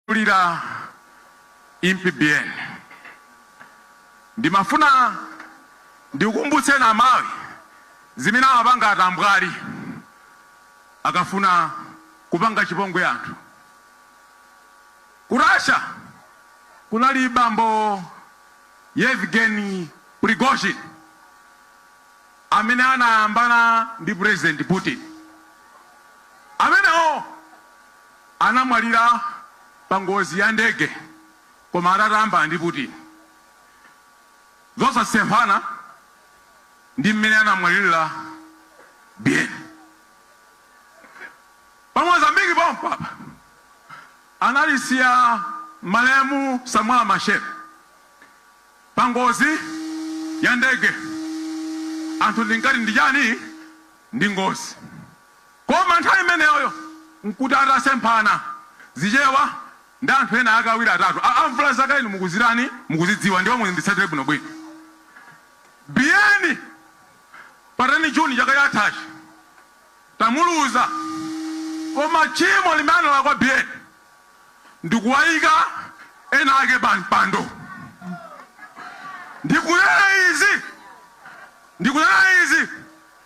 Olamulira Impi Biyeni ndimafuna ndikukumbutseni amalawi zimene amapanga atambwali akafuna kupanga chipongwe anthu. Ku Russia kunali bambo Yevgeny Prigozhin amene anayambana ndi president Putin amenewo anamwalira pa ngozi ya ndege koma atatamba ndi Putin zosasemphana ndi mmene anamwalirira Biyeni. Pa Mozambique pompapa anatisiya malemu Samora Machel pa ngozi ya ndege, anthu tinkati ndi chani? Ndi ngozi. Koma nthawi imeneyoyo nkuti atasemphana zichewa ndi anthu ena ake awiri atatu. Amvula zakale inu mukuzitani? Mukuzidziwa ndipo munditsatire bwinobwino. Biyeni pa 10 June chaka chathachi tamuluza koma tchimo limene analakwa Biyeni ndi kuwaika ena ake pa mpando. Ndikunena izi, ndikunena izi.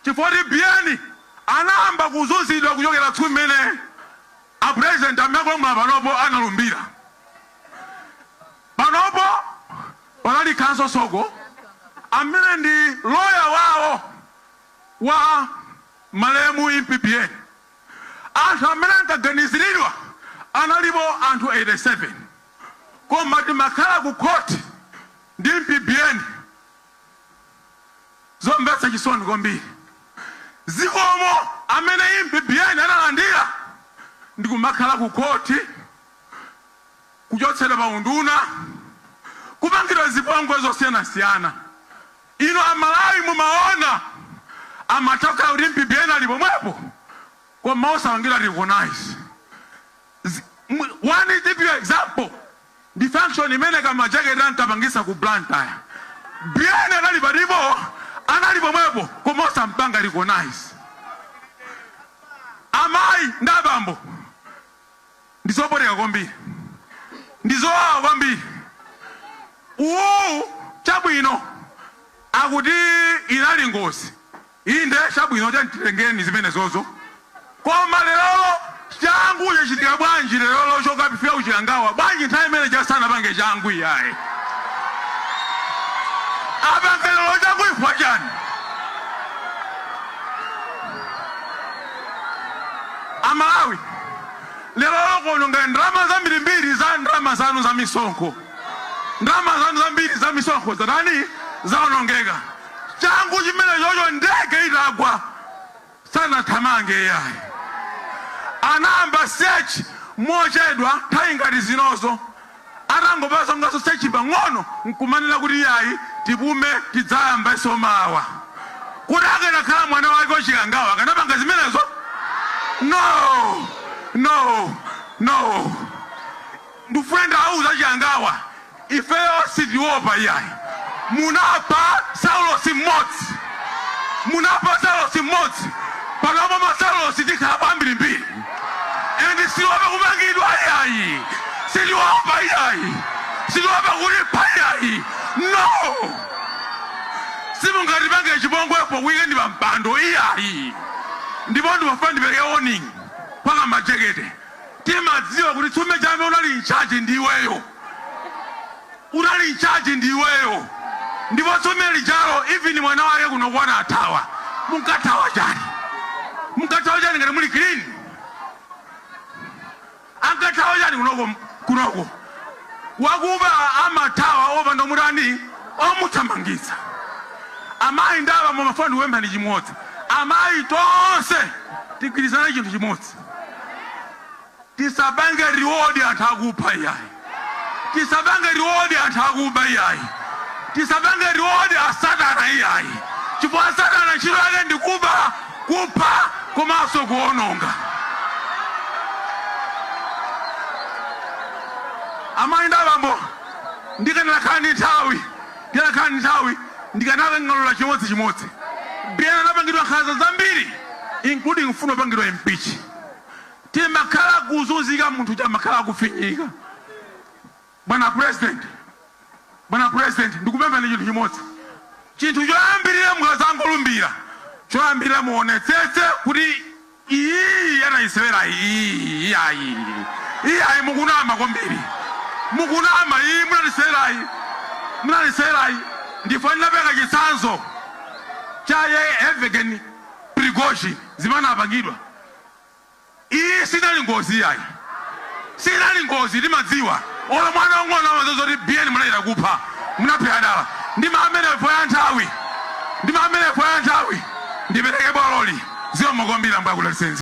Chifukwa choti Biyeni anayamba kuzunzidwa kuchokera tsiku limene a president amene akulamula panopo analumbira. Panopo panali Counsel Soko amene ndi lawyer wawo wa malemu Impi Biyeni. Anthu amene ankaganiziridwa analipo anthu 87. Koma timakhala ku court ndi Impi Biyeni. Zomvetsa chisoni kwambiri zikomo amene Impi Biyeni analandira ndikumakhala ku khothi kuchotsedwa pa unduna kupangidwa zipongwe zosiyanasiyana inu a Malawi mumaona amatokha kuti Impi Biyeni ali pomwepo koma osapangidwa recognize Zi, one typical example ndi function imene ka majekete ankapangisa ku Blantyre. Biyeni anali patipo, anali pomwepo koma osampanga recognize. Amayi ndi abambo ndizopweteka kwambiri, ndizowawa kwambiri. Uwu chabwino akuti inali ngozi Inde, chabwino, tiyeni titengeni zimenezozo. Koma lerolo, changu chachitika bwanji lerolo chokapitira ku Chikangawa? Bwanji nthawi imene ija sanapange changu iyayi? Apange lero changu chifukwa chani? Amalawi, lerolo kuononga ndalama zambirimbiri za ndalama zanu za misonkho, ndalama zanu zambiri za misonkho zatani? Zaonongeka. changu chimenechocho ndege itagwa sanathamange iyayi anayamba search mochedwa nthawi ngati zinozo atangopanganso search pang'ono nkumanena kuti iyayi tipume tidzayambaso mawa kuti akanakhala mwana wake wa Chikangawa akanapanga zimenezo no no no Ndufuna ndiwauze Chikangawa ifeyo sitiopa iyayi munapha saulosi mmodzi munapha saulosi mmodzi panopa masaulosi tikhalapo ambirimbiri and sitiopa kumangidwa iyayi sitiopa iyayi sitiopa kulipha iyayi no simungatipange chipongwepo kuike ndi pampando iyayi ndipo ndimafuna ndipereke warning kwa ka majekete Timadziwa kuti tsumbe chame unali in charge ndi iweyo unali in charge ndi iweyo ndipo tsumbe lijalo even mwana wake kunoko anathawa munkathawa chani munkathawa chani ngati muli clean ankathawa chani kunoko kunoko wakuba amathawa opanda omutani omuthamangitsa amayi ndi abambo ndimafuna ndikupempheni chimodzi amayi tonse tigwirizane chinthu chimodzi Tisapange reward anthu akupha iyayi. Tisapange reward anthu akuba iyayi. Tisapange reward a satana iyayi chifukwa a satana ntchito yake ndi kuba, kupha komanso kuononga. Amayi ndi abambo ndikanakhala ndi nthawi Ndikanakhala ndi nthawi, ndikanakanganula chimodzi chimodzi. Biyeni anapangidwa nkhanza zambiri including kufuna kupangidwa impeach. Chimakhala kuzunzika munthu amakhala akufinyika. Bwana president, bwana president ndikupemphani chinthu chimodzi. Chinthu choyambirira mukadzangolumbira, choyambirira muonetsetse kuti Iyiyi anaisewera iyiyi iyayi iyayi mukunama kwambiri mukunama iyi munatisewerayi munatisewerayi ndipo ndinapereka chitsanzo cha Yevgeny Prigozhin zimene anapangidwa iyi sinali ngozi iyayi. Siinali ngozi timadziwa olo mwana wang'ono amadziwa zoti Biyeni munachita kupha munaphela dala ndi maamene four ya nthawi ndi maamene four ya nthawi ndipeleke baloli zikomo kwambiri ambuye akudaliseni.